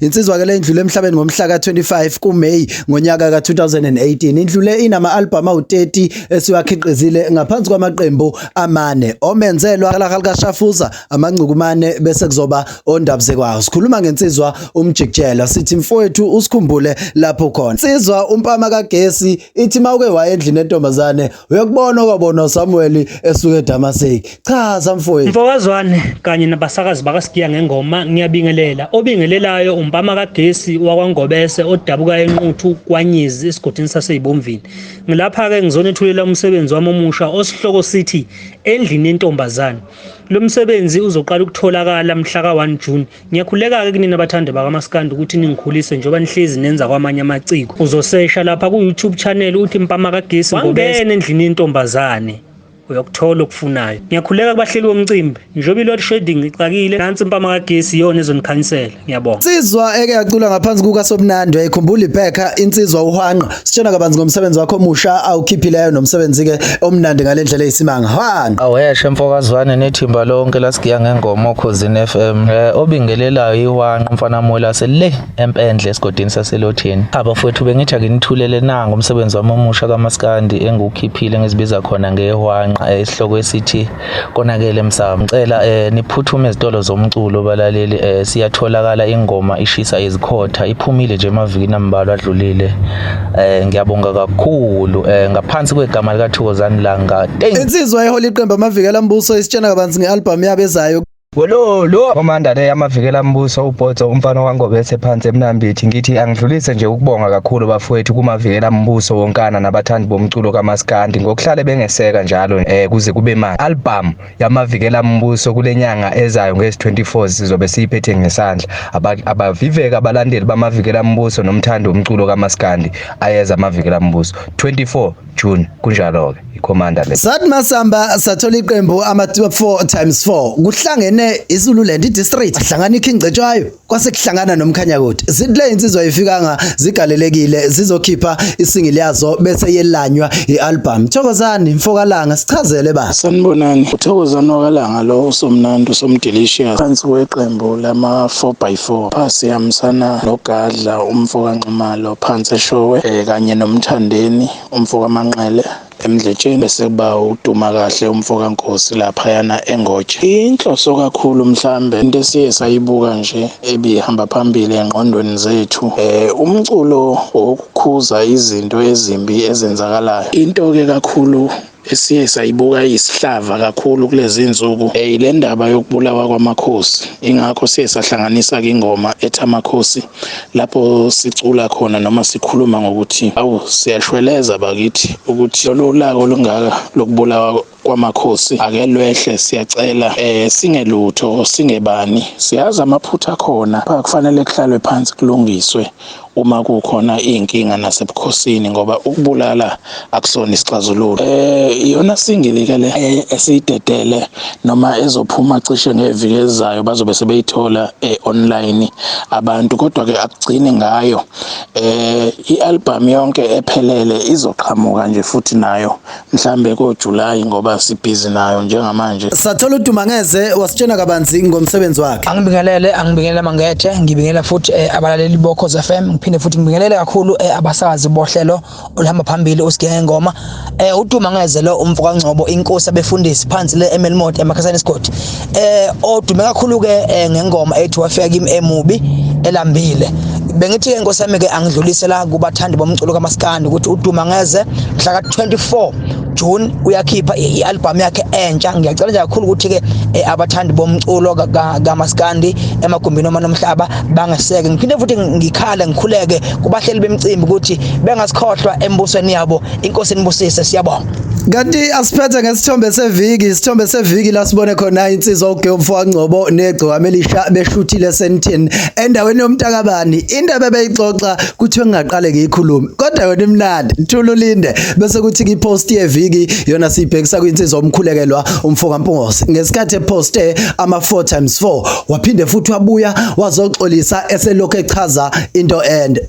Insizwa ke lendlule emhlabeni ngomhla ka-25 kuMay ngonyaka ka-2018 indlule inama-albhamu awu-30 esiwakhiqizile ngaphansi kwamaqembu amane omenzelwa kalahali kashafuza amancukumane bese kuzoba ondabuzekwayo sikhuluma ngensizwa umjikijela sithi mfowethu usikhumbule lapho khona insizwa umpama kagesi ithi uma uke waye endlini entombazane uyakubona okwabona uSamuel esuka eDamaseki chaza mfowethu mfokazwane kanye nabasakazi bakasigiya ngengoma ngiyabingelela obingelelayo umpama kagesi wakwangobese odabuka enquthu kwanyizi esigodini saseyibomvini ngilapha ke ngizonethulela umsebenzi wami omusha osihloko sithi endlini yentombazane lo msebenzi uzoqala ukutholakala mhla ka-1 June Ngiyakhuleka-ke kunina bathande bakamaskandi ukuthi ningikhulise njengoba nihlezi nenza kwamanye amaciko. Uzosesha lapha ku-YouTube channel uthi Mpama Kagesi wangena endlini yentombazane uyokuthola okufunayo. Ngiyakhuleka kubahleli womcimbi njengoba i-load shedding ixakile nansi impama kagesi iyona ezonikhanyisela. Ngiyabonga. Insizwa eke yacula ngaphansi kukaSobunandi uyayikhumbula ibhekha insizwa uhwanqa Sitshena kabanzi ngomsebenzi wakho omusha awukhiphileyo nomsebenzi ke omnandi ngalendlela eyisimanga. Hwana. Aweshe mfokazwane nethimba lonke lasigiya ngengoma okhozini FM. Eh obingelelayo iwanqa mfana mola sele empendle esigodini saselothini. Abafowethu bengithi akinithulele nanga umsebenzi wami omusha kamaskandi engukhiphile ngizibiza khona ngehwanqa esihloko esithi konakele msaka ngicela eh, niphuthume ezitolo zomculo balaleli eh, siyatholakala ingoma ishisa izikhotha iphumile nje emavikini ambalwa adlulile eh, ngiyabonga kakhulu eh, ngaphansi kwegama likathokozani langa insizwa ehole iqembu amavikela mbuso isitshena kabanzi nge-albhamu yabo ezayo Welolo Commander le yamavikela mbuso uBhotso umfana waNgobese phansi eMnambithi ngithi angidlulise nje ukubonga kakhulu bafowethu kumavikela mbuso wonkana nabathandi bomculo kaMaskandi ngokuhlale bengeseka njalo eh kuze kube manje album yamavikela mbuso kulenyanga ezayo ngezi 24 sizobe siyiphethe ngesandla abaviveka abalandeli bamavikela mbuso nomthandi womculo kaMaskandi ayeza amavikela mbuso 24 June kunjalo ke ikhomanda le Sathi masamba sathola iqembu ama 4 times 4 kuhlangene iZululand idistrict ahlangana ikhingcetshwayo kwase kuhlangana nomkhanya kuthi zidle insizwa ifikanga zigalelekile zizokhipha isingili yazo bese yelanywa ialbum Thokozani mfokalanga sichazele ba Sanibonani uthokozani wakalanga lo usomnandi usomdelicious phansi weqembu lama 4 by 4 phasi yamsana nogadla umfokanxumalo Phansi eShowe eh, kanye noMthandeni umfokaManqele emdletsheni bese kuba uduma kahle umfoka Nkosi lapha yana engotshe inhloso kakhulu mhlambe into esiye sayibuka nje ebihamba phambili engqondweni zethu eh umculo wokukhuza izinto ezimbi ezenzakalayo into ke kakhulu esiye sayibuka isihlava kakhulu kulezi nsuku eh, le ndaba yokubulawa kwamakhosi ingakho siye sahlanganisa ke ingoma ethi amakhosi lapho sicula khona noma sikhuluma ngokuthi awu siyashweleza bakithi ukuthi lolu laka olungaka lokubulawa kwamakhosi ake lwehle siyacela eh singelutho singebani siyazi amaphutha khona kufanele kuhlalwe phansi kulungiswe uma kukhona iy'nkinga nasebukhosini ngoba ukubulala akusona isixazululo um iyona singili-ke le eh, esiyidedele noma ezophuma cishe ngeviki ezayo bazobe sebeyithola um online abantu kodwa-ke akugcini ngayo um i-albhamu yonke ephelele izoqhamuka nje futhi nayo mhlambe koJuly ngoba sibhizi nayo njengamanje. Sathola uDuma ngeze wasitshena kabanzi ngomsebenzi wakhe. Angibingelele angibingelela mangethe ngibingelela futhi eh, abalaleli boKhoza FM ngiphinde futhi ngibingelele kakhulu eh, abasakazi bohlelo olihamba phambili usigenge ngoma. Eh uDuma ngeze lo umfo kaNgcobo inkosi abefundisi phansi le eMelmot emakhasana esigodi. eh odume kakhulu ke eh, ngengoma ethi wafika kimi emubi elambile bengithi ke inkosi yami ke angidlulisela kubathandi bomculo kamaskandi ukuthi uduma ngeze mhla ka-24 June uyakhipha i-album yakhe entsha ngiyacela nje kakhulu ukuthi ke eh, abathandi bomculo kamaskandi emagumbini oma nomhlaba bangeseke ngiphinde futhi ngikhale ngikhuleke kubahleli bemcimbi ukuthi bengasikhohlwa embusweni yabo inkosi inibusise siyabonga Kanti asiphethe ngesithombe seviki, isithombe seviki la sibone khona insizwa uGeoffrey Wangcobo negcokama elisha beshuthile Sentin endaweni yomntakabani. Indaba ebeyixoxa kuthiwe ngingaqale ngiyikhulume. Kodwa yona imnandi, thula ulinde bese kuthi kwipost yeviki yona sibhekisa kwinsizwa omkhulekelwa umfoka Mpungose. Ngesikhathi eposte ama 4 times 4 waphinde futhi wabuya wazoxolisa eselokhu echaza into ende.